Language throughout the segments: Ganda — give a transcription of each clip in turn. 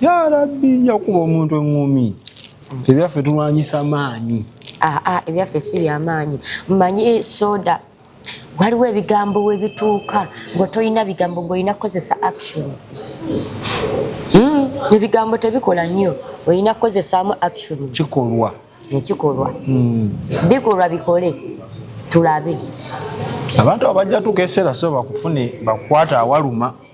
ya rabbi nja kukuba omuntu eŋŋumi ebyaffe tulwanyisa maanyi aa ah, ah, ebyaffe si byamaanyi mmanyi soda waliwo ebigambo webituuka nga tolina bigambo ngaolina kukozesa actions hmm, ebigambo tebikola nnyo olina kukozesaamu actions kikolwa ekikolwa hmm. bikolwa bikole tulabe abantu abajja tukeserasoo bakufune bakukwata awaluma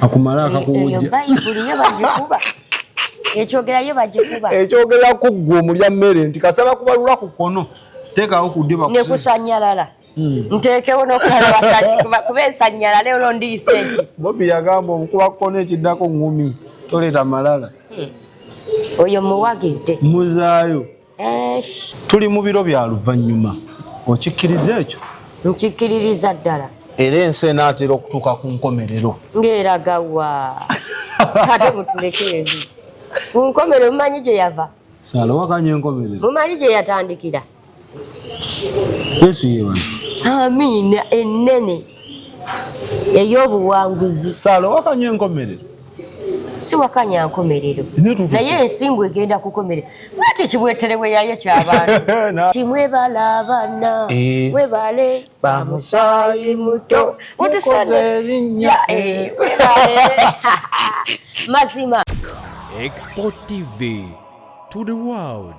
akumala eh, akakuwujja eyo bayibuli yo bagikuba ekyogera yo bagikuba ekyogera ku ggwe omulya mmere nti kasaba kubalula ku kkono teekawo ku ddyo bakusi nekusanyalala Hmm. nteekewo nokuba esanyala naye olwo ndiyisa eki bobi yagamba omukuba kukona ekiddako ngumi toleeta malala hmm. oyo muwagidde muzaayo tuli mu biro bya luvannyuma okikkiriza ekyo nkikkiririza ddala era ensi enaatera okutuuka ku nkomerero ng'eragawa kate mutulekeebi ku nkomerero mumanyi gye yava salawakanya enkomerero mumanyi gye yatandikira yesu yebaza amiina ennene ey'obuwanguzi sala wakanya enkomerero si wakanya nkomerero naye ensingo egenda kukomerera lwati ekibwetere weyayo kyabantu ti mwebala abana eh. webale bamusayi muto mutukoze erinya eh, mazima export tv to the world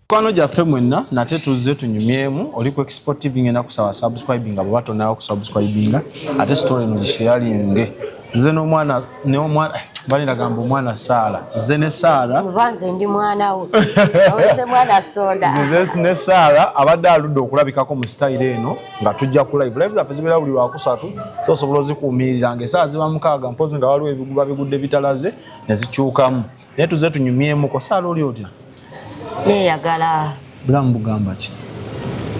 Kwano gyaffe mwenna nate tuzze tunyumyemu oli ku export tv ngenda kusaba subscribing abo batonawo kusubscribinga ate story eno gisheyalinge nze n'omwana n'omwana bali nagamba omwana saala nze ne saala nze ndi mwana wo aweze mwana soda nze ne saala abadde aludde okulabikako mu sitayiro eno nga tujja ku live live zaffe zibeera buli lwakusatu so osobola ozikuumiriranga esaawa ziba mukaaga mpozi nga waliwo ebiguba bigudde bitalaze ne zikyukamu Naye tuze tunyumyemu ko sala oli otya? Ne yagala. Bulamu bugamba ki?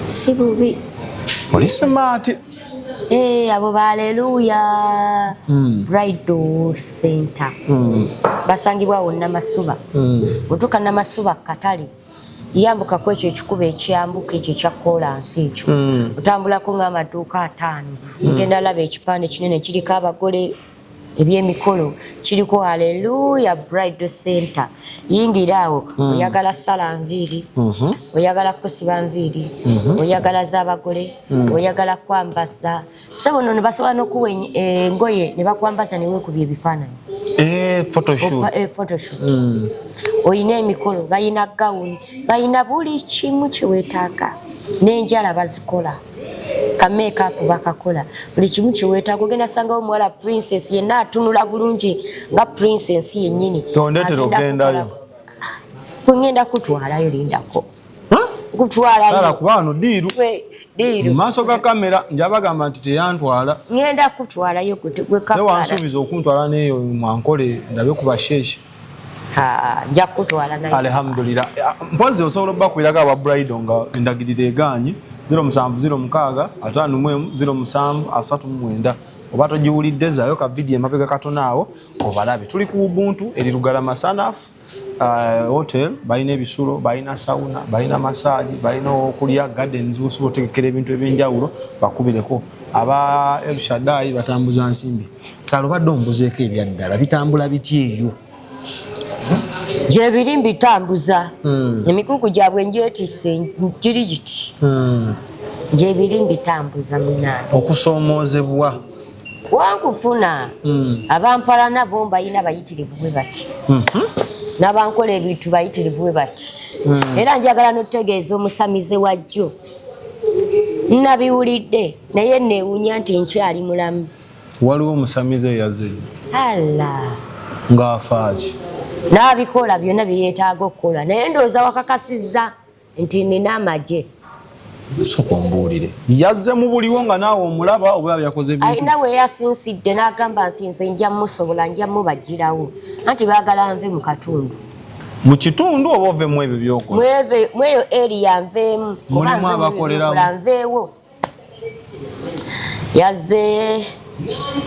Si bubi. Oli smart. Eh, abo baleluya. Mm. Bridal center. Mm. Basangibwa wonna masuba. Mm. Utuka na masuba katali. yambuka ku ekyo ekikuba ekyambuka ekyo ekya koolansi ekyo hmm. otambulako ng'amaduuka ataano hmm. ngenda laba ekipande kinene kiriko abagole ebyemikolo kiriko aleluya bride center yingira awo mm. oyagala sala nviiri mm -hmm. oyagala kusiba nviiri mm -hmm. oyagala zabagole mm. oyagala kwambaza sebo nono basobola nokuwa engoye eh, nebakwambaza newekubya ebifaananyi eh, photoshoot eh, mm. oyina emikolo bayina gawuni bayina buli kimu kyewetaaga nenjala bazikola ka make up bakakola buli kimu kyewetaaga ogenda sangawo omuwala princess yenna atunula bulungi nga princess yennyini tondetera ogendayo kwengenda kutwalayo lindako kutwalayo kuba wano diiru mu maaso ga kamera njabagamba nti teyantwala ngenda kutwalayo gwewansuubiza okuntwala neyo mwankole ndabe kubasheeshe ajja kukutwala naye alhamdulillah mpozi osobola okubakwirako aba brido nga endagiriro egaanye 0706 ataano mu emu 07 asatu mu mwenda oba togiwulidde zaayo ka vidiyo emabega katona awo obalabe tuli ku ubuntu eri lugalama sanaf uh, hotel balina ebisulo balina sauna balina masaji balina okulya gardens osobola otegekera ebintu ebyenjawulo bakubireko aba elshadai batambuza nsimbi salubadde ombuzeeko ebyaddala bitambula bitya eyo gyebiri mbitambuza hmm. emikuku gyabwe njetise giri giti hmm. gyebiri mbitambuza munange okusoomoozebwa wankufuna hmm. abampala nabo mbalina bayitirivu bwe bati mhm. nabankola ebintu bayitirivu bwe bati era njagala notegeeza omusamize wajjo nabiwulidde naye newunya nti nkyali mulamu waliwo omusamize eyaze ng'afaaki n'abikola byonna bye yeetaaga okukola naye ndowooza wakakasizza nti nina amagye soka ombuulire yazze mu buliwo nga naawe omulaba oba yakoze alina we yasinsidde n'agamba nti nze nja musobola nja mubagirawo anti baagala nve mu katundu mu kitundu oba ovemu ebyo byokola mweyo eri yanveemu oba nveewo yazze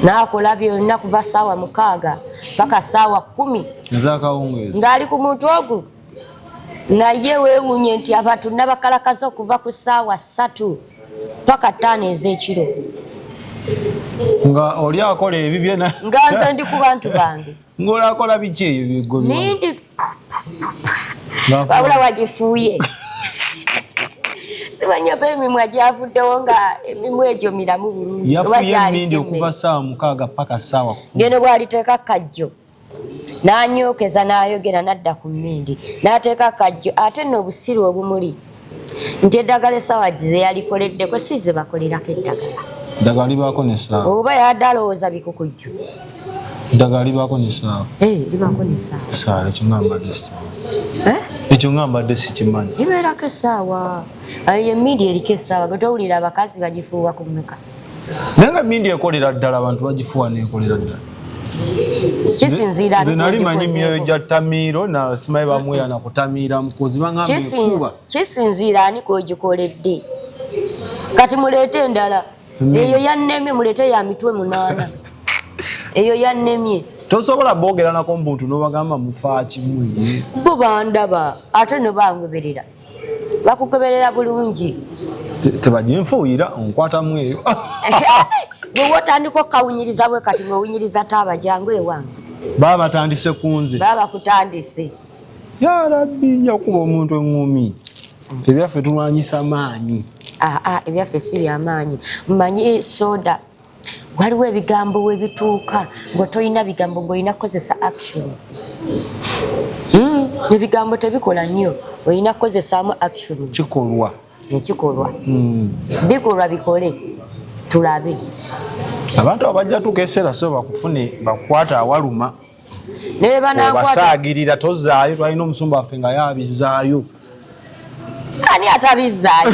n'akola byonna kuva ssaawa mukaaga paka ssaawa kkumi ng'ali ku muntu ogu naye weewuunye nti abantu nabakalakaza okuva ku ssaawa ssatu paka ttaano ez'ekiro nga oli akola ebibye nga nze ndi ku bantu bange ngolakola biki eyo byegobiwabula wagifuuye simanya oba emimwa gyavuddewo nga emimwa egyo miramu bulungi yafuye emindi okuva saawa mukaaga paka saawa geno bwaliteeka kajjo nanyookeza nayogera nadda ku mmindi nateeka kajjo ate no obusiru obumuli nti eddagala essaawa ze yalikoleddeko si ze bakolerako eddagala eddagala libaako nesaawa oba yadde alowooza bikukujju eddagala libaako nesaawa eh, libaako nesaawa saala ekyo nga mbadde sitawa eh? ekyo nga mbadde sikimanyi libeerako essaawa eyo emiidi eriko essaawa gwe towulira abakazi bagifuuwa ku muka naye nga mindi ekolera ddala abantu bagifuwa nekolera ddala kisinziranze nali manyi myoyo gya tamiiro na simayi bamweya na kutamiira mukozi bangamekuba kisinziira ani kwegikoledde kati muleete endala hmm. eyo yannemye muleete ya mitwe munaana eyo yannemye tosobola boogeranako mbuntu nobagamba mufaakimwe bo bandaba ate nebangoberera bakugoberera bulungi tebajja nfuuyira onkwatamu eyo bwewa otandika okukawunyiriza bwe kati ng'owunyiriza taaba jangu ewange baba batandise ku nze baba bakutandise ya rabbi nja kukuba omuntu eŋŋumi ebyaffe tulwanyisa maanyi ah, ah, ebyaffe si byamaanyi mmanyi soda waliwo ebigambo we bituuka nga tolina bigambo ng'olina kukozesa actions hmm, ebigambo tebikola nnyo olina kukozesaamu actions kikolwa ekikolwa hmm. bikolwa bikole tulabe abantu abajja tuuka eseera so bakufune bakukwata awaluma obasaagirira tozaayo twalina omusumba waffe nga yaabizaayo ani atabizaayo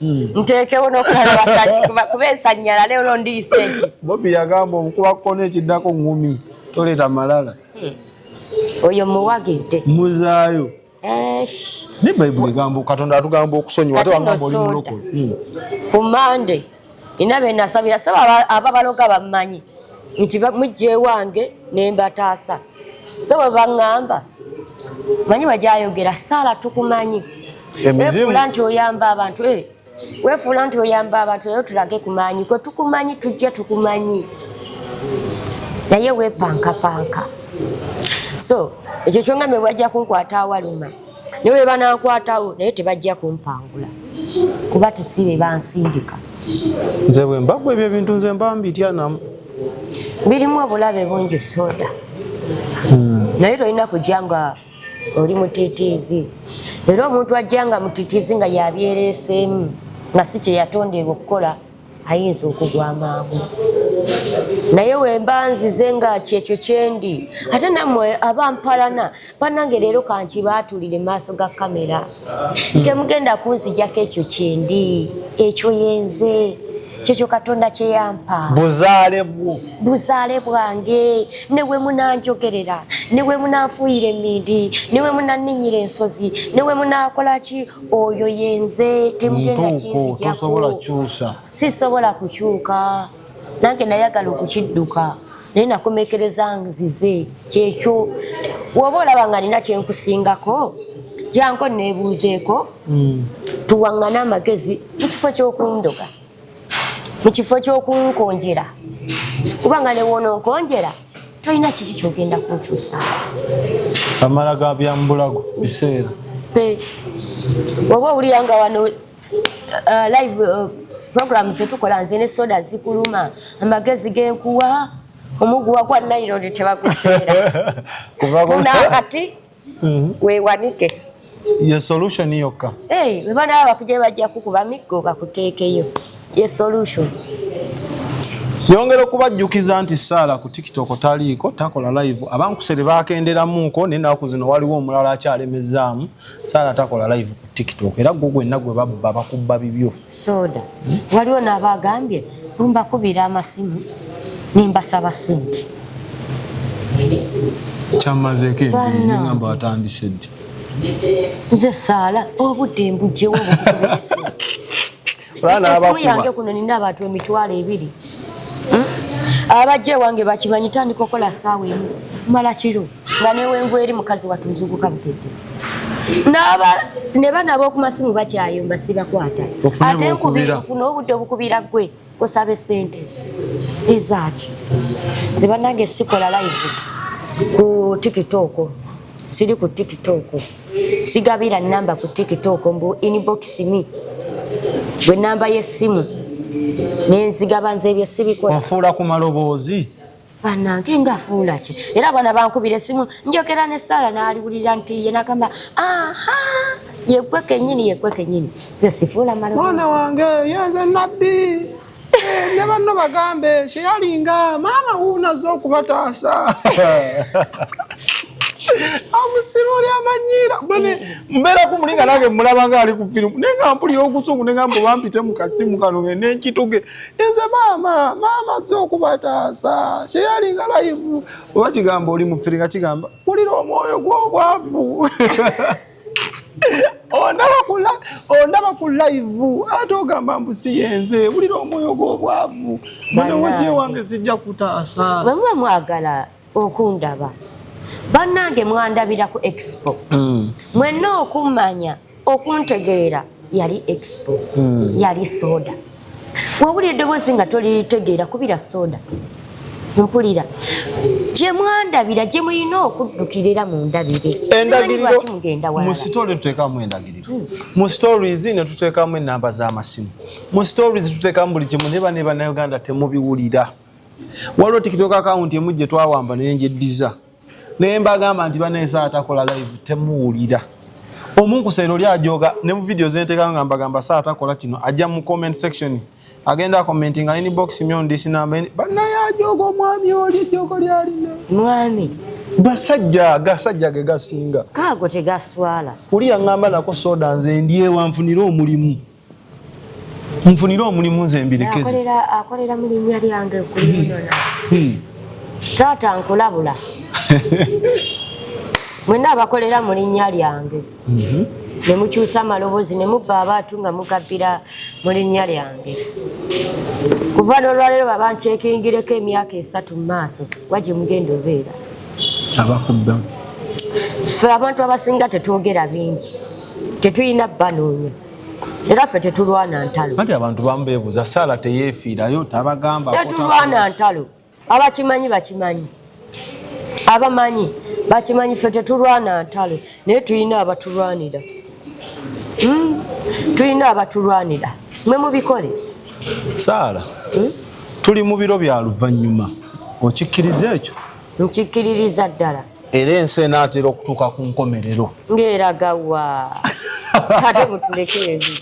Hmm. nteekewo nokuba esanyala leero ndiyise eki bobi yagamba omukuba kukona ekiddako ngumi toleeta malala hmm. oyo muwagidde muzaayo ne bayibuli egamba katonda atugamba okusonyiwa ate wagamba oli mulokole hmm. ku mande nina benasabira saba ababaloga bammanyi nti mujjewange nembataasa so bwe baŋŋamba manyi bajayogera saala tukumanyi wefuula nti oyamba abantu eh, wefuula nti oyamba abantu naye tulage kumanyi kwe tukumanyi tujja tukumanyi naye wepankapanka so ekyo kyongambe bwajja kunkwata awaluma naye webanankwatawo naye tebajja kumpangula kuba tesibe bansindika nze bwembagwa ebyo ebintu nze mba mbityanamu birimu obulabe bungi soda hmm. naye tolina kujja nga oli mutitiizi era omuntu ajja nga mutitiizi nga yabyereeseemu nga si kye yatonderwa okukola ayinza okugwa amangu naye wemba nzize nga kyekyo kyendi ate namwe abampalana banange leero kankibaatulire maaso ga kamera hmm. temugenda kunzijako ekyo kyendi ekyo yenze kyekyo katonda kyeyampa buzaale bwo buzaale bwange newe munanjogerera newe munanfuuyira emindi newe munanninyira ensozi newe munakolaki oyo yenze temugendakinzijako sisobola kukyuka nange nayagala okukidduka naye nakomekereza nzize kyekyo woba olaba nga nina kyenkusingako janko nebuuzeeko hmm. tuwaŋŋane amagezi mu kifo kyokundoga mu kifo kyokunkonjera kubanga newoononkonjera tolina kiki kyogenda kunkyusa amala ga byambulago biseera oba owulira nga wano uh, live uh, program zetukola nze ne soda zikuluma amagezi genkuwa omuguwa kwa naironi tebakuseera kunakati mhm. wewanike ye solution yokka hey, webanaba bakuje bajja kukuba miggo bakuteekeyo ye solution yongera okubajjukiza nti saala ku tiktok taliiko takola live abankusere bakenderamuuko naye naku zino waliwo omulala akyalemezaamu Sara takola live ku TikTok era gwo gwenna gwe babba bakubba bibyo. Soda. Hmm? Waliwo n'abagambye bumba kubira amasimu nimbasaba sente. Kyamazeeko enviiri ngamba watandise ddi? Nze saala obudde mbugyewo obukubirise. esimu yange kuno nina abantu emitwalo ebiri hmm? abajja ewange bakimanyi tandika okola saawa emu mala kiro nga newengu eri mukazi watuzuguka bukedde naba ne bana aboku masimu bakyayomba sibakwata ate nkubira nfuna obudde obukubira gwe osaba esente ezaaki zibanange sikola live ku tiktok siri ku tiktok sigabira namba ku tiktok mbu inbox me gwe namba yesimu nenzigaba nze ebyo sibikola ofuula ku maloboozi banange nga afuula ki era abaana bankubira esimu njogera ne saala naaliwulira nti ye nagamba aha yegwe kenyini yegwe kenyini ze sifuula maloboozi mwana wange yenze nabbi Eh, ne banno bagambe kyeyalinga maama wuunaze okubataasa omusiru oli amanyiira bane mbeera ku mulinga nange mulaba nga ali ku firimu naye nga mpulira okusungu ne ngamba obampite mu kasimu kano nge nenkituge enze maama maama si okubataasa kyeyalinga layivu oba kigamba oli mu firi nga kigamba wulira omwoyo gw'obwavu ondaba ku laivu ate ogamba mbu siyenze wulira omwoyo gw'obwavu banawaje wange zijja kutaasa bamwe mwagala okundaba bannange mwandabira ku expo mm. mwenna okummanya okuntegeera yali expo mm. yali soda wawulira eddoboozi nga toliritegeera kubira soda mpulira gye mwandabira gye mulina okuddukira era mundabire endagiriromusitole tuteekamu endagiriro hmm. mu stories ne tuteekamu enamba z'amasimu mu stories tuteekamu buli kimu neba ne bannayuganda temubiwulira waliwo tikitoka akawunti emu gye twawamba naye ngyeddiza naye mbagamba nti banayesa atakola live temuwulira omunkuseera oli ajoga ne mu vidiyo zentekayo nga mbagamba saa takola kino ajja mu comment section agenda akomenti nga ini box myondisi namba banaye ajoga omwami oli ejoko lyalina mwami gasajja agasajja ge gasinga kaago tegaswala oli yaŋŋamba nako soda nze ndyewanfunire omulimu nfunire omulimu nze mbirekeakolera mu linnya lyange kuliyona hmm. hmm. taata nkulabula mwena abakolera mu linnya lyange mhm. ne mukyusa amaloboozi ne mubba abaatu nga mugabbira mu linnya lyange kuva n'olwaleero babankyekingireko emyaka esatu mu maaso kuba gye mugenda obeera abakubba ffe abantu abasinga tetwogera bingi tetulina banoonya era ffe tetulwana ntalo anti abantu bamu bebuuza saala teyefiirayo tabagamba tetulwana ntalo abakimanyi bakimanyi abamanyi bakimanyi ffe tetulwana ntalo naye tulina abatulwanira hmm? tulina abatulwanira mwe mubikole saala hmm? tuli mu biro bya luvannyuma okikkiriza ekyo nkikkiririza ddala era ensi enaatera okutuuka ku nkomerero ngaeragawa ate mutuleke ebi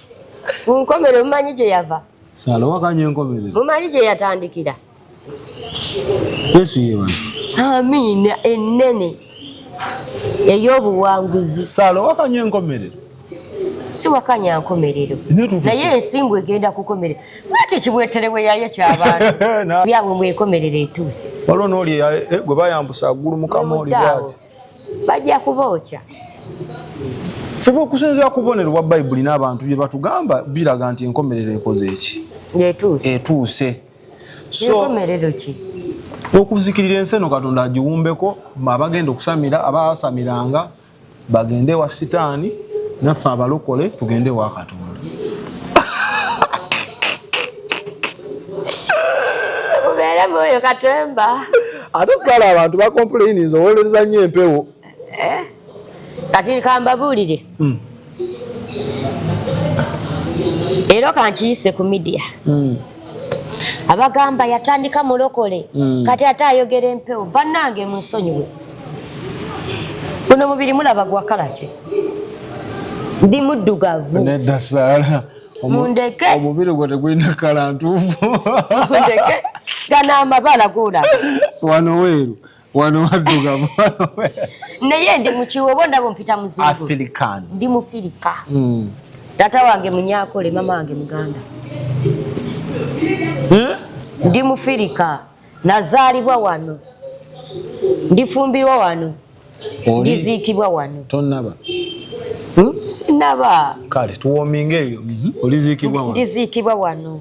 ku nkomerero mumanyi gye yava salowakanya enkomerero mumanyi gye yatandikira yesu yebaza amiina ennene ey'obuwanguzi salowakanya enkomerero siwakanya nkomerero naye ensimbu egenda kukomerera lwaki kibweterewe yayo kyabantu byabwe mwekomerero etuuse waliwo nooli eh, gwe bayambusa agulu mukama oli bwati bajja kubookya feba okusinzira kubonero bwa bayibuli n'abantu bye batugamba biraga nti enkomerero ekoze eki etuuse okuzikirira ensi eno katonda agiwumbeko abagenda okusamira abaasamiranga bagende wa sitaani naffe abalokole tugende wa katonda oyo katemba ate sala abantu bakompulaininze owolereza nnyo empewo eh? kati kambabuulire hmm. leero kankiyise ku midiya hmm. abagamba yatandika mulokole hmm. kati ate ayogera empewo bannange munsonyiwe guno mubiri mulaba gwakalaki ndi muddugavu mundeke omubiri gwe tegulina kala ntuufu mundeke gano amabala gulaba wano weeru wano waddugavu naye ndi mukiwa oba ndaba ompita muzungu ndi mufirika hmm. tata wange munyakole mama wange muganda hmm? ndi mufirika nazaalibwa wano ndifumbirwa wano ndiziikibwa wano tonaba hmm? sinaba kale tuwominga eyo mhm. oliziikibwa wano ndiziikibwa wano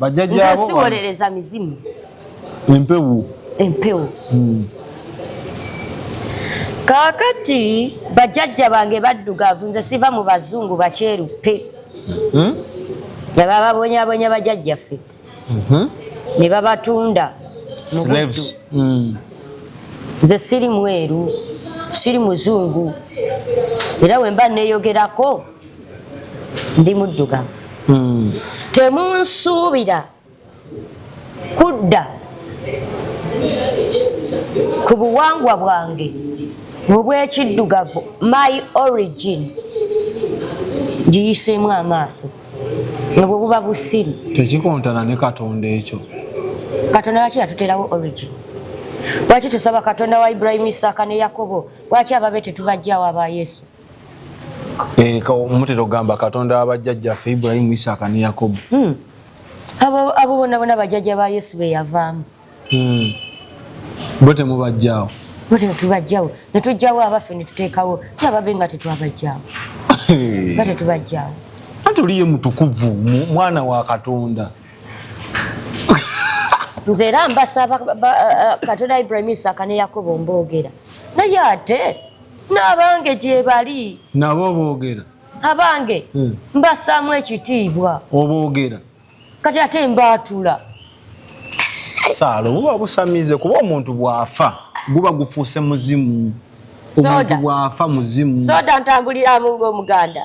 bajjajja abo siwolereza mizimu empewo empewo hmm. kakati bajjajja bange baddugavu nze siva mu bazungu bakyerupe hmm? nga bababonyabonya bajajjaffe mhm. ne babatunda hmm. nze siri mweru siri muzungu era wemba neyogerako ndi muddugavu hmm. temunsuubira kudda ku buwangwa bwange obwekiddugavu my origin giyiseemu amaaso nobwe buba busiru tekikontana ne katonda ekyo katonda lwaki yatuterawo origin lwaki tusaba katonda wa ibrahimu isaaka ne yakobo lwaki ababe tetubajjawo aba yesu Eh, mutera okugamba katonda wa bajjajjaffe ibulayimu isaaka ne yakobo hmm. abo bona bona bajjajja ba yesu be yavaamu hmm. bo temubajjawo bo tetubajjawo ne tujjawo abaffe ne tuteekawo nga babe nga tetwabajjawo nga tetubajjawo anti oliye mutukuvu mwana wa katonda nze era mbasaba eh, eh, katonda ibulayimu isaaka ne yakobo mboogera naye ate n'abange gyebali nabo oboogera abange hmm. mbassaamu ekitiibwa oboogera kati ate mbaatula saala obuba busamize kuba omuntu bw'afa guba gufuuse muzimu omuntu bw'afa muzimu soda ntambuliramu ng'omuganda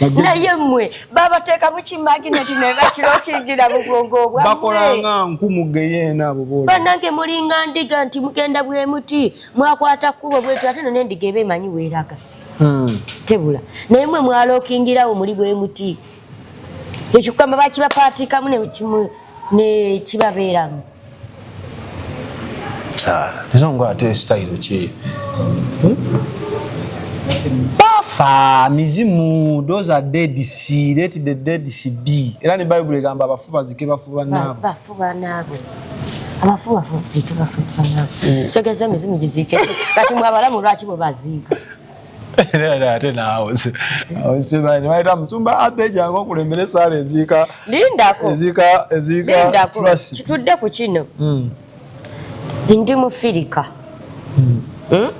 naye mwe babateeka mukimagineti nebakira okigira bubwongo obwabakolanga nku mugeyeena abo bol banange mulinga ndiga nti mugenda bwemuti mwakwata kkubo bwetyo ate no nendiga eba emanyi weeraga hmm. tebula naye mwe mwalookingirawo muli bwemuti ekyo kugamba bakibapaatiikamu nekimu nekibabeeramu Ezo nga ate style ki? Bafa mizimu those are dead si let the dead si be. Era ne Bible egamba abafu bazike bafu banaabwe. Bafu banaabwe. Abafu bafu zike bafu banaabwe. Segeza mizimu gizike. Kati mwabalamu lwaki bo baziika. ate naawe osimanyi bayita musumba abbe jangu okulembera esaala eziika lindako eziika eziika lindako kitudde ku kino hmm. ndi mufirika hmm. hmm?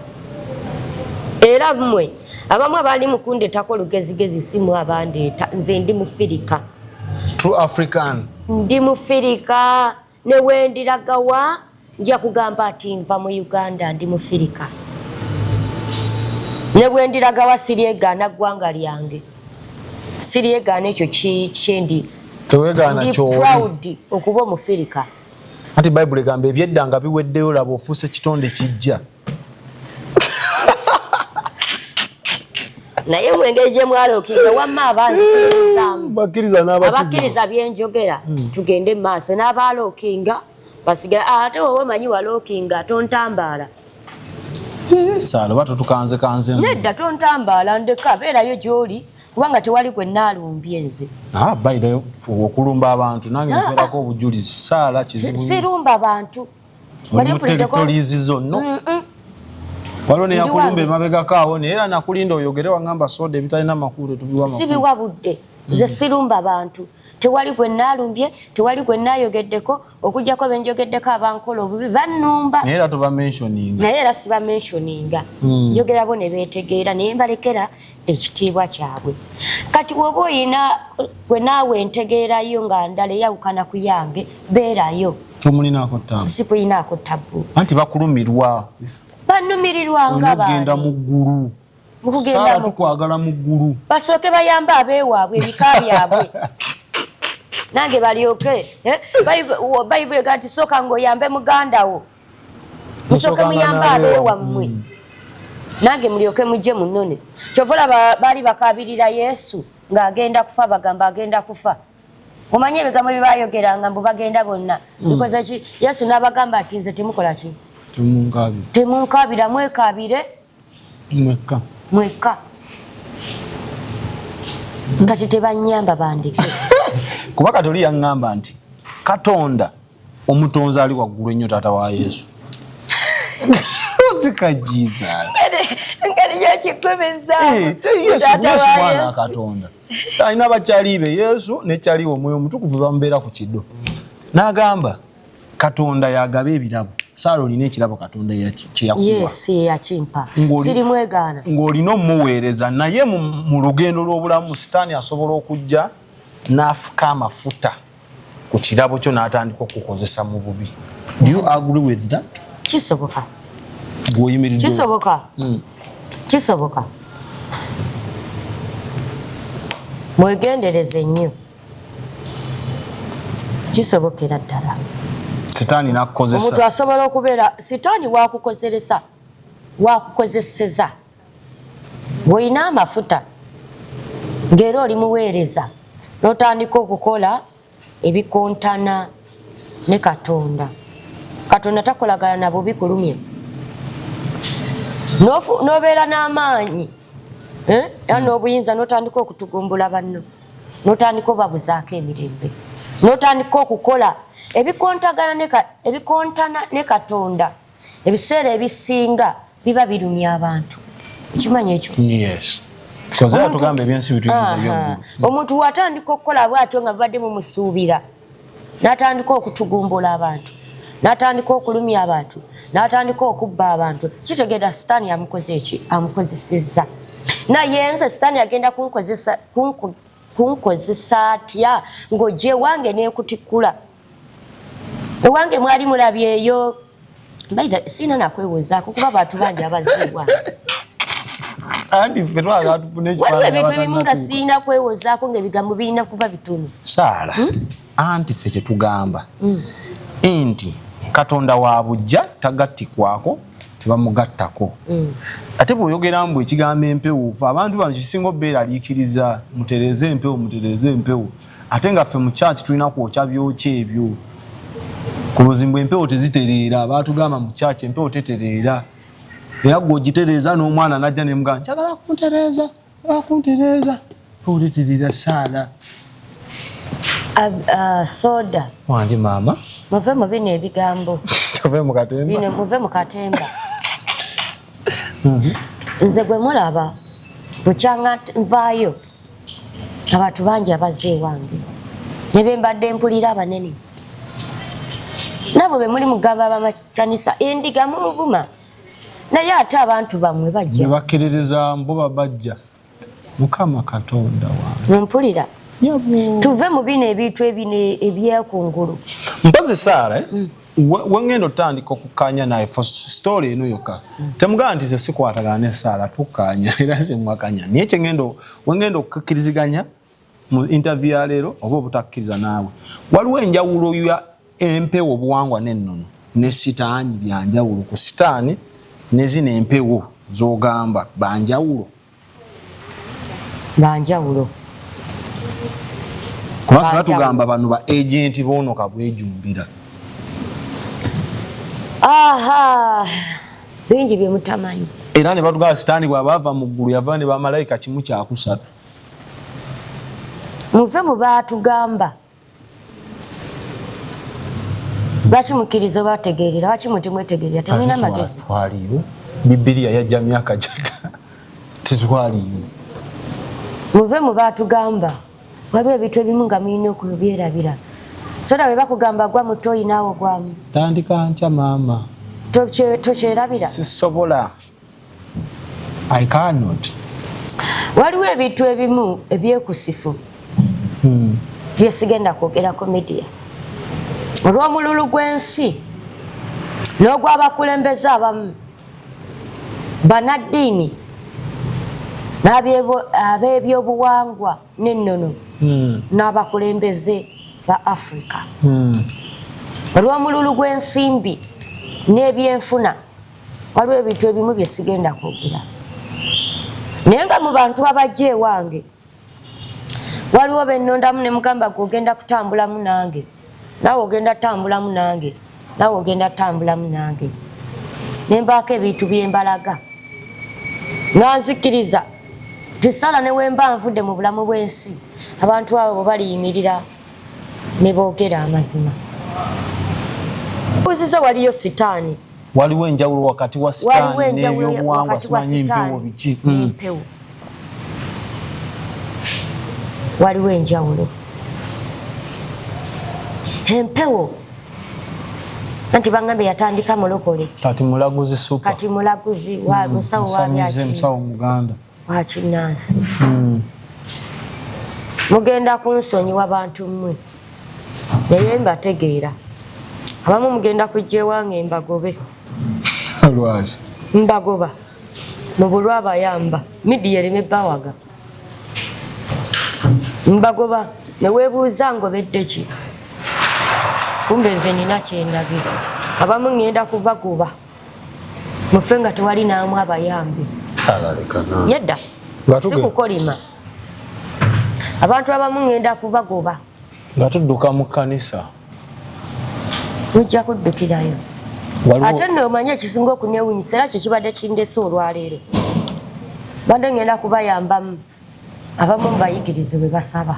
era mmwe abamu abaali mukundetako olugezigezi simu abandeeta nze ndi mufirika true african ndi mufirika ne wendiragawa nja kugamba ati nva mu uganda ndi mufirika ne bwendiragawa siryegaana ggwanga lyange siryegaana ekyo kyendi okuba omufirika anti bayibuli egamba ebyedda nga biweddeyo laba ofuusa ekitonde kijja naye mu engeri gye mwalokinga wamma abanziabakkiriza byenjogera hmm. tugende mu maaso n'abaalookinga basigala ah, ate wowe manyi walookinga tontambaala sala oba totukanze kanze nedda tontambaala ndeka beerayo gy'oli kubanga tewali gwe naalumbye nze ah, bayidayo okulumba abantu nange nferako ah, obujulizi saala kizibu sirumba bantu muteritorizi zonno waliwo neyakulumba emabegako awo naye era nakulinda oyogere wangamba soda ebitalina makulu tubiwa sibiwa budde nze mm. sirumba bantu tewali gwe nalumbye tewali gwe nayogeddeko okujjako benjogeddeko abankola obubi banumba naye era tubamensioninga naye era sibamensioninga mm. njogerabo ne beetegeera naye mbalekera ekitiibwa kyabwe kati woba oyina gwe naawe entegeerayo nga ndala eyawukana ku yange beerayo sikuyinaako tabbu anti bakulumirwa banumirirwa nga bagenda mu ggulu mukugenda mukwagala mu ggulu basooke bayambe abeewaabwe ebika byabwe nange balyoke eh? bayibuli ega nti sooka ngaoyambe muganda wo musooke muyambe abeewammwe mm. nange mulyoke mujje munone kyova olaba baali bakabirira yesu ng'agenda kufa bagamba agenda kufa omanyi ebigambo bye bayogeranga mbu bagenda bonna mm. bikoze ki yesu n'abagamba ati nze temukola ki temunkabira mwekabire mwekka mwekka kati tebanyamba bandeke kuba kati oli yaŋŋamba nti katonda omutonzi ali waggulu ennyo taata wa yesu ozika jesus engeri yakikubizaawana eh, katonda alina bakyali be yesu nekyaliwo omwoyo omutukuvu bamubeera ku kido n'agamba katonda yagaba ebirabo saala olina ekirabo katonda kyeyakuwakimpansirimwegaana ng'olina omuweereza naye mu lugendo lw'obulamu sitaani asobola okujja n'afuka amafuta ku kirabo kyo n'atandika okukozesa mu bubi kisoboka kisoboka hmm. kisoboka mwegendereze nnyo kisobokera ddala sitaani nakukozesa omuntu asobola okubeera sitaani wakukozeresa wakukozeseza bwolina amafuta ngaera oli muweereza notandika okukola ebikontana ne katonda katonda takolagana na bubi kulumya nobeera n'amaanyi eh? era n'obuyinza notandika okutugumbula banno no notandika obabuzaako emirembe notandika okukola ebikontana ne katonda ebiseera ebisinga biba birumya abantu ekimanyi ekyo omuntu watandika okukola bwatyo nga bibadde mumusuubira natandika okutugumbula abantu natandika okulumya abantu natandika okubba abantu kitegeera sitaani yamukoze eki amukozesezza naye nze sitaani agenda kunkozesa kunkozesa atya ng'ojja ewange n'ekutikkula ewange mwali mulabyeyo Bayiga sina nakwewozaako kuba bantu bangi abaziibwa anti ffe twagala tufune ekifaananyi ebimu nga sirina kwewozaako ng'ebigambo birina kuba bitono saala hmm? anti ffe kye tugamba hmm. nti katonda wa bujja tagattikwako tebamugattako hmm. ate bw'oyogera mbu ekigambo empewo fe abantu bano kisinga obeeraliikiriza mutereeze empewo mutereeze empewo ate nga ffe mu church tulina kwokya byokya ebyo kuluzimbu empewo tezitereera baatugamba mu church empewo tetereera era gwe ogitereeza n'omwana najja nemugaa njagala kuntereeza akuntereeza empewo tetereera saala uh, soda wange maama muve mu bino ebigambo muve mu katemba muve mu katemba mhm. nze gwe mulaba bukyanga nvaayo abantu bangi abazze ewange ne be mbadde mpulira abanene nabo be muli mugamba abamakanisa endiga munvuma naye ate abantu bamwe bajja bakkiririza mbuba bajja mukama katonda wange mpulira tuve mu bino ebintu ebino ebyekungulu mpozi saara eh? mm. wengenda otandika okukanya naye for story eno yoka temugamba nti ze sikwatagana nesaala tukanya era zemwakanya naye kyengenda wengenda okukiriziganya mu interview ya leero oba obutakkiriza naawe waliwo enjawulo ya empewo obuwangwa nennono ne sitaani byanjawulo ku sitaani nezino empewo zogamba banjawulo banjawulo kuba fena tugamba bano ba agenti bono kabwejumbira aha bingi byemutamanyi era ne batugaba sitaani bwabaava mu ggulu yava ne bamalayika kimu kyakusatu muve mu baatugamba lwaki mukkiriza oba tegeerera lwaki mwe temwetegeerera temulina magezi twaliyo bibiriya yajja myaka gyata titwaliyo muve mu baatugamba waliwo ebintu ebimu nga mulina okubyerabira soda bwe bakugamba gwa muto oyinaawo gwamu tandika ntya maama tokyerabira sisobola I cannot. Waliwo ebintu ebimu ebyekusifu hmm. byesigenda kwogera ku midiya olw'omululu gw'ensi n'ogw'abakulembeze abamu banaddiini n'ab'ebyobuwangwa n'ennono hmm. n'abakulembeze ba afrika hmm. olw'omululu gw'ensimbi n'ebyenfuna waliwo ebintu ebimu bye sigenda kwogera naye nga mu bantu abajja ewange waliwo benondamu ne mugamba gwe ogenda kutambulamu nange nawe ogenda tambulamu nange nawe ogenda tambulamu nange nembaako ebintu byembalaga nga nzikiriza tisala newemba nvudde mu bulamu bwensi abantu abo bwebaliyimirira nebogera amazima uziza waliyo sitaani waliwo enjawulo wakati wa sitaani n'ebyobuwangwa simanyi mpewo biki hmm. waliwo enjawulo empewo anti bangambye yatandika mulokole kati mulaguzi supa kati mulaguzi wa hmm. musawo wa byaki musawo muganda wakinansi hmm. mugenda kunsonyiwa bantu mmwe naye mbategeera abamu mugenda kujja ewange mbagobe lwaki mbagoba mu bulwa abayamba midiya ereme bawaga mbagoba ne weebuuza ngobeddeki kumbe nze nina kyendabye abamu ŋŋenda kubagoba mufe nga tewali naamu abayambi yedda sikukolima abantu abamu ngenda kubagoba nga tudduka mu kkanisa mujja kuddukirayo ate nno omanye ekisinga okunewunyisa era kyo kibadde kindese olwaleero badde ngenda kubayambamu abamu mubayigirize bwe basaba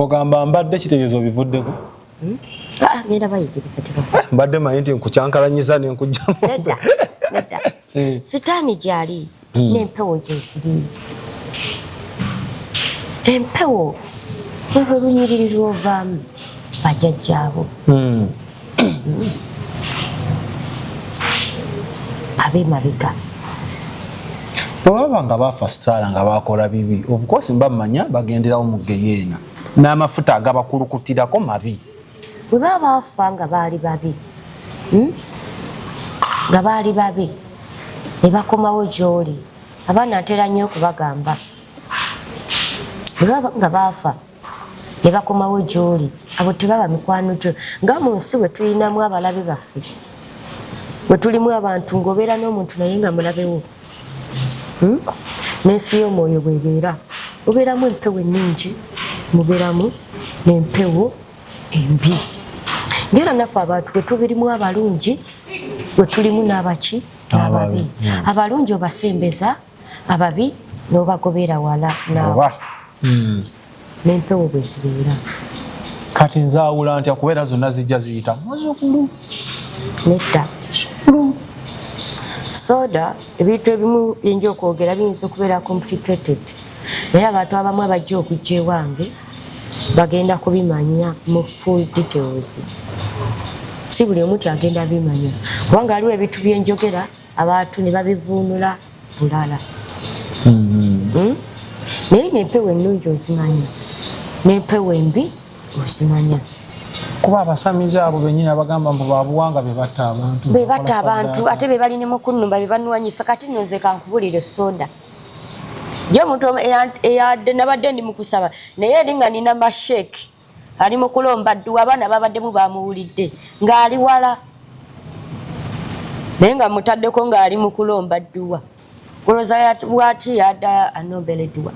ogamba mbadde kitegeeza obivuddeko Hmm? Ah, ngenda bayigiriza tebaa mbadde manyi nti nkukyankalanyiza nenkujjamu nedda nedda hmm. sitaani gyali hmm. n'empewo gyeziri empewo olwo lunyiriri lwovaamu bajajjaabo abemabega bwebaba nga baafa sitaala nga baakola bibi of course mba mmanya bagenderawo mu geyeena n'amafuta agabakulukutirako mabi bwe baba baafa nga baali babi hmm? nga baali babi ne bakomawo gy'oli abaana ntera nnyo okubagamba bwe baba nga baafa ne bakomawo gy'oli abo tebaba mikwano gyo nga mu nsi bwe tulinamu abalabe baffe bwe tulimu abantu ng'obeera n'omuntu naye nga mulabewo hmm? n'ensi y'omwoyo bwebeera mubeeramu empewo ennungi mubeeramu n'empewo embi ngaera naffe abantu bwetubirimu abalungi wetulimu n'abaki n'ababi hmm. abalungi obasembeza ababi n'obagobeera wala naawe hmm. n'empewo bwe zibeera. Kati nzaawula ntya kuba era zonna zijja ziyita muzukulu? Nedda. Zukulu. Soda ebintu ebimu byenja okwogera biyinza okubeera complicated naye abantu abamu abajja okujja ewange bagenda kubimanya mu full details si buli omu ti agenda bimanya kubanga waliwo ebintu byenjogera abantu ne babivuunula bulala mm-hmm. hmm? naye nempewo ennungi ozimanya nempewo embi ozimanya kuba abasamize abo benyini abagamba mbu babuwanga bebatta abantu bebatta abantu ate bebalinemu okunumba bebanuwanyisa kati no nze kankubulire soda jo omuntu nabadde ndi mukusaba naye eringa nina masheki ali mu kulomba dduwa abaana babaddemu bamuwulidde ng'ali wala naye nga mutaddeko ng'ali mu kulomba dduwa kuloza bwati yada anombele dduwa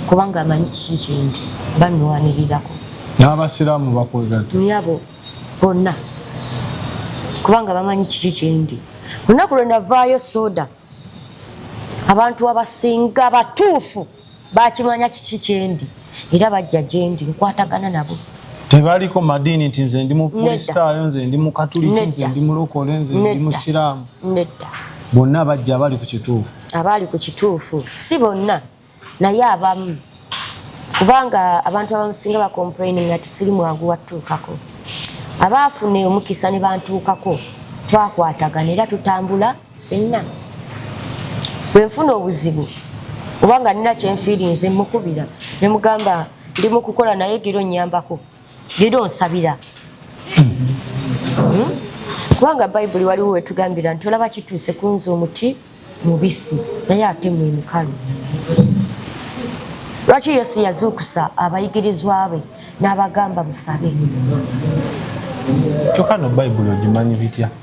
kubanga amanyi kiki kyendi banwanirirako n'abasiraamu bakwegato nyabo bonna kubanga bamanyi kiki kyendi olunaku lwe navaayo soda abantu abasinga batuufu bakimanya kiki kyendi era bajja gyendi nkwatagana nabo tebaliko madiini nti nze ndi mukristaayo nze ndi mukatuliki nze ndi mulokole nze ndi musiraamu bonna bajja abali ku kituufu abali ku kituufu si bonna naye abamu kubanga abantu abamusinga bacomplaining ati siri mwangu wattuukako abaafuna omukisa ne bantuukako twakwatagana era tutambula fenna bwenfuna obuzibu oba nga nina kyenfiirinze mukubira nemugamba ndi mukukola naye gira onyambako gira onsabira hmm? kubanga bayibuli waliwo wetugambira nti olaba kituuse kunza omuti mubisi naye ate mwemukalu lwaki yesu yazuukusa abayigirizwa be n'abagamba musabe kyokka no bayibuli ogimanyi bitya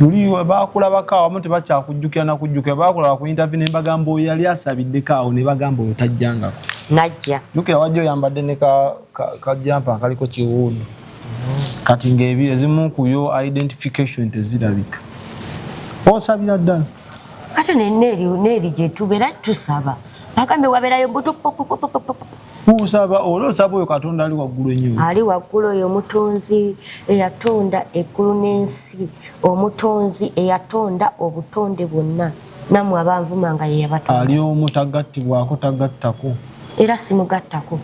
luli bakulabako awamu tebakyakujjukira nakujjukira bakulaba ku intervie ne mbagamba oyo yali asabiddeko awo ne bagamba oyo tajjangako najja jukira wajja oyambadde ne kajampa akaliko kiwuudu kati ngaebi ezimu kuyo identification tezirabika osabira ddala ate neeri gyetubeera tusaba bagambe waberayo butu Usaba ola osaba oyo Katonda ali waggulu ennyo. Ali waggulu oyo omutonzi eyatonda eggulu n'ensi, omutonzi eyatonda obutonde bwonna, nammwe abanvuma nga ye yabatonda. Ali omu tagattibwako tagattako. Era simugattako.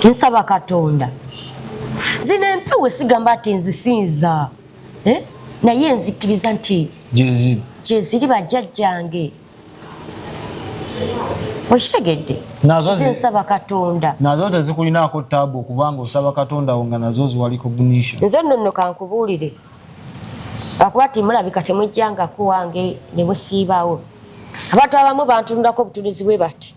Nsaba Katonda. Zino empewo sigamba ati nzisinza. Eh? Naye nzikiriza nti. Gyeziri. Gyeziri bajjajjange. okitegedde nsaba katonda nazo tezikulinaako taabu okubanga osaba katonda wo nga nazo ziwa recognition nze nno nno kankubuulire akuba ti mulabika temujjangako wange ne busiibaawo abantu abamu bantunulako obutunuzi bwe bati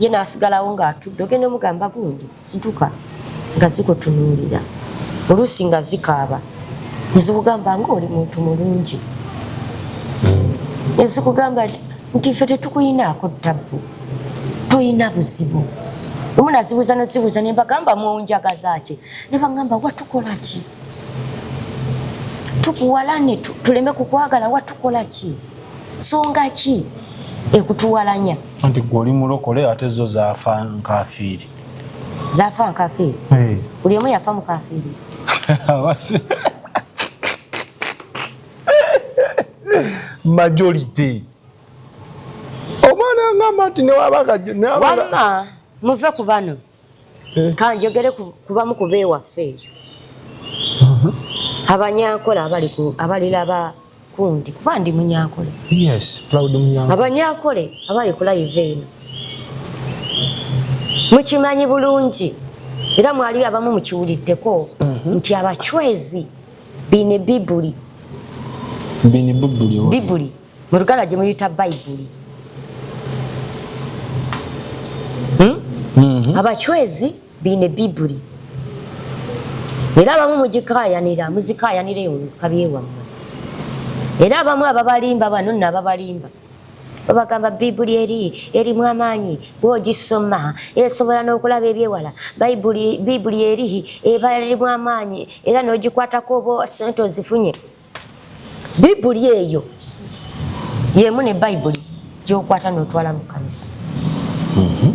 ye n'asigalawo ng'atudde ogenda omugamba gundi situka nga zikutunuulira oluusi nga zikaaba ne zikugamba ng'oli muntu mulungi ne zikugamba nti ffe tetukuyinaako ttabbu toyina buzibu omu nazibuuza nozibuuza ne mbagamba munjagaza ki ne bagamba watukola ki tukuwalane tuleme kukwagala watukola ki songa ki ekutuwalanya anti gwe oli mulokole ate zo zafa nkafiiri zafa nkafiiri eh. buli omu yafa mukafiiri majority omwana ngamba nti newabagawamma muve ku bano mm, kanjogere kubamu kuba ewaffe eyo mhm. abanyakola abalilaba kundi kuba ndi munyakole abanyakole abali kulayiva eno mukimanyi bulungi era mwali abamu mukiwuliddeko mhm. nti abacwezi bine bibuli bibuli mu luganda gye muyita bayibuli hmm? mhm. abacwezi biine bibuli era abamu mugikayanira muzikayanira eyo mukabyewammwe era abamu ababalimba bano nno ababalimba babagamba bibuli eri erimu amaanyi bwogisoma esobola n'okulaba ebyewala bibuli eri eba erimu amaanyi era n'ogikwatako oba sente ozifunye bibuli eyo yemu ne bayibuli gyokwata notwala mu kanisa mhm.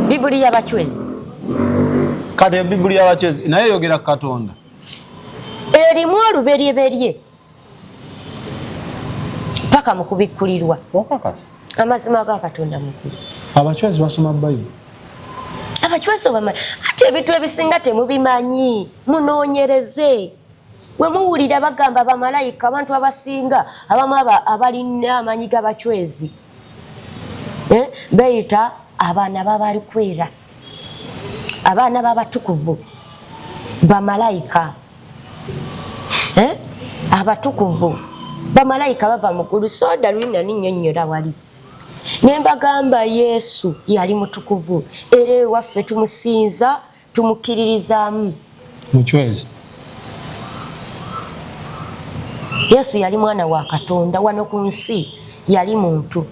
bibuli yabacwezi kati bibuli yabacwezi naye yogera katonda erimu oluberyeberye paka mu kubikkulirwa amazima ga katonda mukulu abacwazi basoma bayibuli abacwazi obamanyi ate ebintu ebisinga temubimanyi munoonyereze we muwulira bagamba bamalayika abantu abasinga abamu abalina amanyi g'abacwezi eh, beyita abaana babali kwera abaana babatukuvu bamalayika eh, abatukuvu bamalayika bava mugulu soda lwina ninyonyola wali nembagamba yesu yali mutukuvu era ewaffe tumusinza tumukkiririzaamu mucwezi yesu yali mwana wa katonda wano ku nsi yali muntu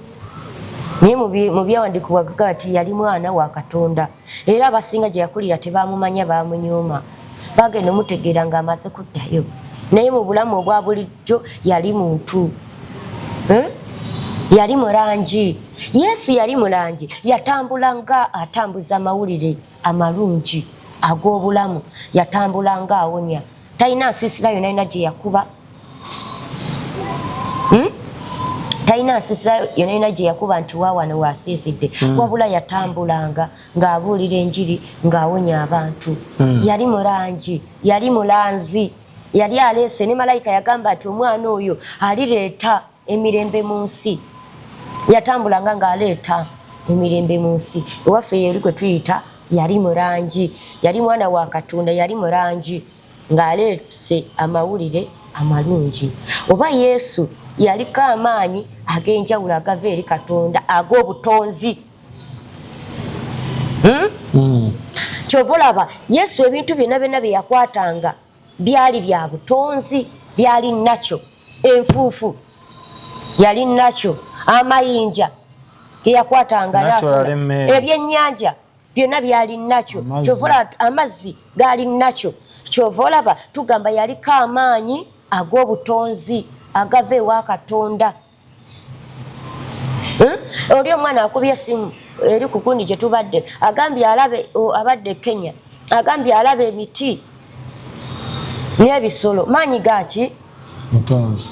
naye mu byawandiikibwa gaga nti yali mwana wa katonda era abasinga gye yakulira tebamumanya bamunyuma bagenda omutegeera nga amaze kuddayo naye mu bulamu obwa bulijjo yali muntu hmm? yali mulangi yesu yali mulangi yatambula nga atambuza amawulire hmm? amalungi ag'obulamu yatambula nga awonya talina nsiisira yona yona gye yakuba hmm? talina nsiisira yona yona gye yakuba nti waawano waasiisidde hmm. wabula yatambulanga ng'abuulira enjiri ng'awonya abantu hmm. yali mulangi yali mulanzi yali aleese ne malayika yagamba nti omwana oyo alireeta emirembe mu nsi yatambulanga ng'aleeta emirembe mu nsi ewaffe yeri kwe tuyita yali mu langi yali mwana wa katonda yali mu langi ng'aleese amawulire amalungi oba yesu yaliko amaanyi ag'enjawulo agava eri katonda ag'obutonzi hmm? hmm. kyova olaba yesu ebintu byonna byonna bye yakwatanga byali bya butonzi byali nakyo enfuufu yali nakyo amayinja geyakwatanga ebyenyanja byonna byali nakyo kyovola amazzi gaali nakyo kyova olaba tugamba yaliko amaanyi ag'obutonzi agava ewa katonda hmm? oli omwana akubye esimu eri ku kundi gye tubadde agambye alabe abadde e kenya agambye alaba emiti n'ebisolo maanyi gaki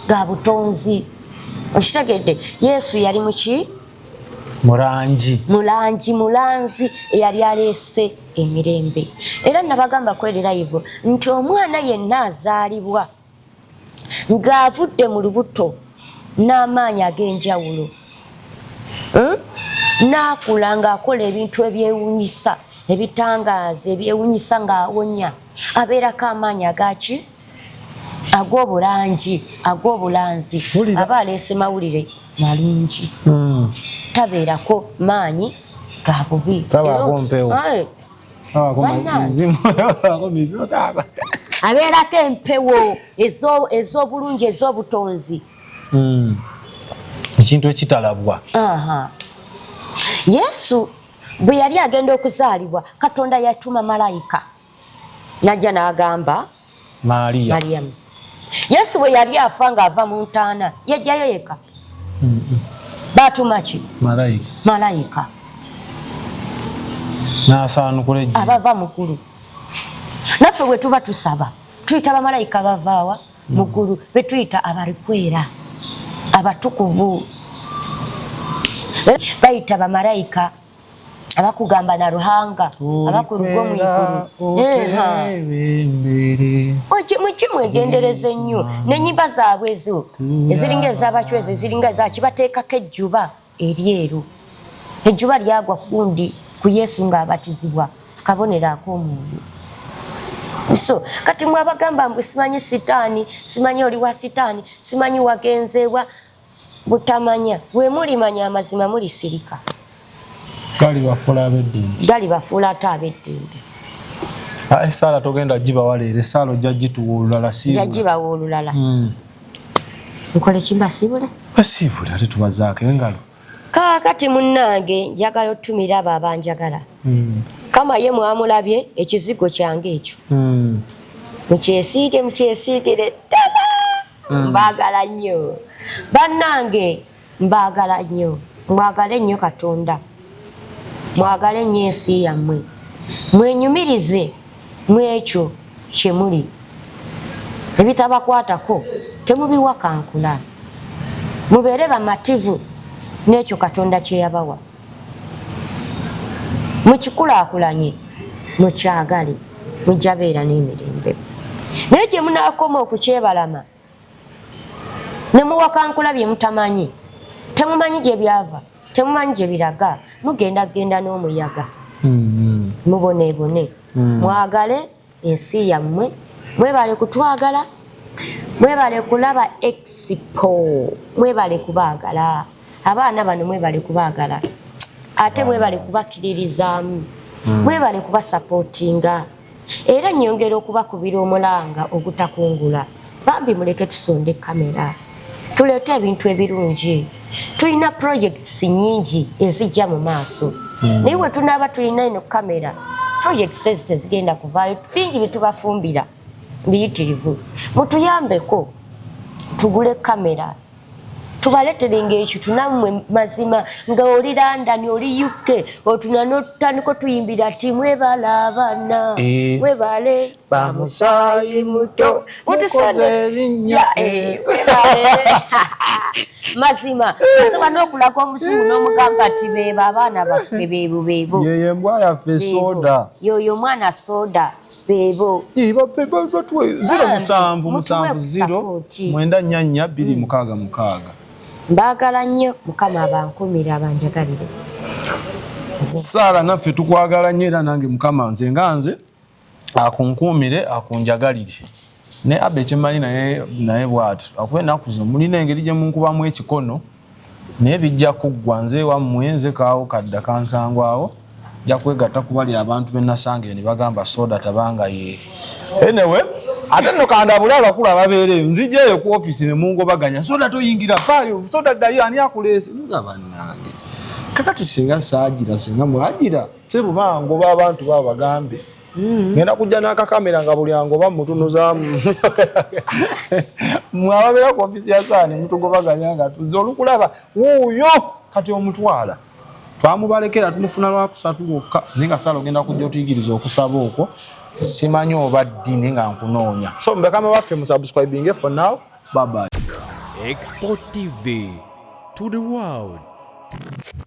ga butonzi okitegedde yesu yali muki mulangi mulangi mulanzi eyali aleese emirembe era nabagamba kweri layivu nti omwana yenna azaalibwa ng'avudde mu lubuto n'amaanyi ag'enjawulo hmm? n'akula ng'akola ebintu ebyewunyisa ebitangaaza ebyewunyisa ng'awonya abeerako amaanyi agaki ag'obulangi ag'obulanzi aba aleese mawulire malungi hmm. tabeerako maanyi ga bubi abeerako empewo ez'obulungi ez'obutonzi hmm. ekintu ekitalabwa yesu bwe yali agenda okuzaalibwa katonda yatuma malayika najja n'agamba mariyamu yesu bwe yali afa ng'ava mu ntaana yajjayo yeka batuma ki malayika nasaanukula ejji abava mukulu naffe bwe tuba tusaba tuyita bamalayika bavaawa mukulu mm. betuyita abalikwera abatukuvu eh, bayita bamalayika abakugamba na ruhanga abakurugo mu iguru mukimu egendereza ennyo nenyimba zaabwe ezo eziringa ezabacwezi eziringa ezakibateekako ejjuba eryeru ejjuba lyagwa kundi ku yesu ng'abatizibwa akabonero ak'omwoyo so kati mwabagamba mbu simanyi sitaani simanyi oli wa sitaani simanyi wagenzeewa butamanya bwe mulimanya amazima mulisirika galibafuula abeddembe galibafuula ate abeddembe ah, esaala togenda gibawa leero esaala ojja gituwa olulala sijagibawa olulala hmm. nkole kimbasiibule basiibule ate tubazaako engalo kaakati munnange njagala otumira abo abanjagala hmm. kama ye mwamulabye ekizigo kyange ekyo hmm. mukyesiige mukyesiigire ddala mm. mbaagala nnyo bannange mbaagala nnyo mwagale nnyo katonda mwagale nnyo ensi yammwe mwenyumirize mwekyo kye muli ebitabakwatako temubiwakankula mubeere bamativu n'ekyo katonda kye yabawa mukikulaakulanye mukyagale mujja beera n'emirembe naye gye munaakoma okukyebalama ne muwakankula bye mutamanyi temumanyi gye byava temumanyi gye biraga mugenda kugenda n'omuyaga mm-hmm. muboneebone mm. mwagale ensi yammwe mwebale kutwagala mwebale kulaba expo mwebale kubaagala abaana bano mwebale kubaagala ate mwebale kubakiririzaamu hmm. mwebale kubasapootinga era nyongera okubakubira omulanga ogutakungula bambi muleke tusonde kamera tuleete ebintu ebirungi tulina projects nyingi ezijja mu maaso hmm. naye we tunaaba tulina eno kamera projects ezo tezigenda kuvaayo bingi byetubafumbira biyitirivu mutuyambeko tugule kamera tubaletere ngaekitu nammwe mazima nga oli london oli uk otuna notandika otuyimbira ti mwebala abaana eh. webale bamusaayi muto mukoze erinnya eh, mazima osobola n'okulaga omuzungu n'omugamba nti beebo abaana baffe beebo beebo yeyo embwa yaffe soda yoyo omwana soda beebo ziro ah, musanvu musanvu ziro mwenda nnya nnya bbiri mukaaga mukaaga mbaagala nnyo mukama abankumira banjagalire saala naffe tukwagala nnyo era nange mukama nze nga nze akunkuumire akunjagalire ne abba ekyemanyi naye naye bwatu akuba ennaku zo mulina engeri gye munkubamu ekikono naye bijja kuggwa nze wammwe nze kaawo kadda kansangwawo ja kwegatta kuba lya abantu be nasanga eyo ne bagamba soda tabanga ye enewe ate nno kandabule abakulu ababeera eyo nzija eyo ku ofisi ne mungobaganya soda toyingira faayo soda ddayo ani akuleese nga bannange kakati singa saagira singa mwagira Sebo bango ba bantu ba bagambe. Mm. Ngenda kujja na kakamera nga buli ango ba mutuno za. Mwababera ku ofisi ya sani mtu goba ganyanga tuzolu kulaba. Uyo kati omutwala. Twamubalekera tumufuna lwa kusatu gokka ninga salo genda kujja otuyigiriza okusaba okwo. Simanyi oba ddi ninga nkunoonya. So mbekama baffe mu subscribing for now. Bye bye. Export TV to the world.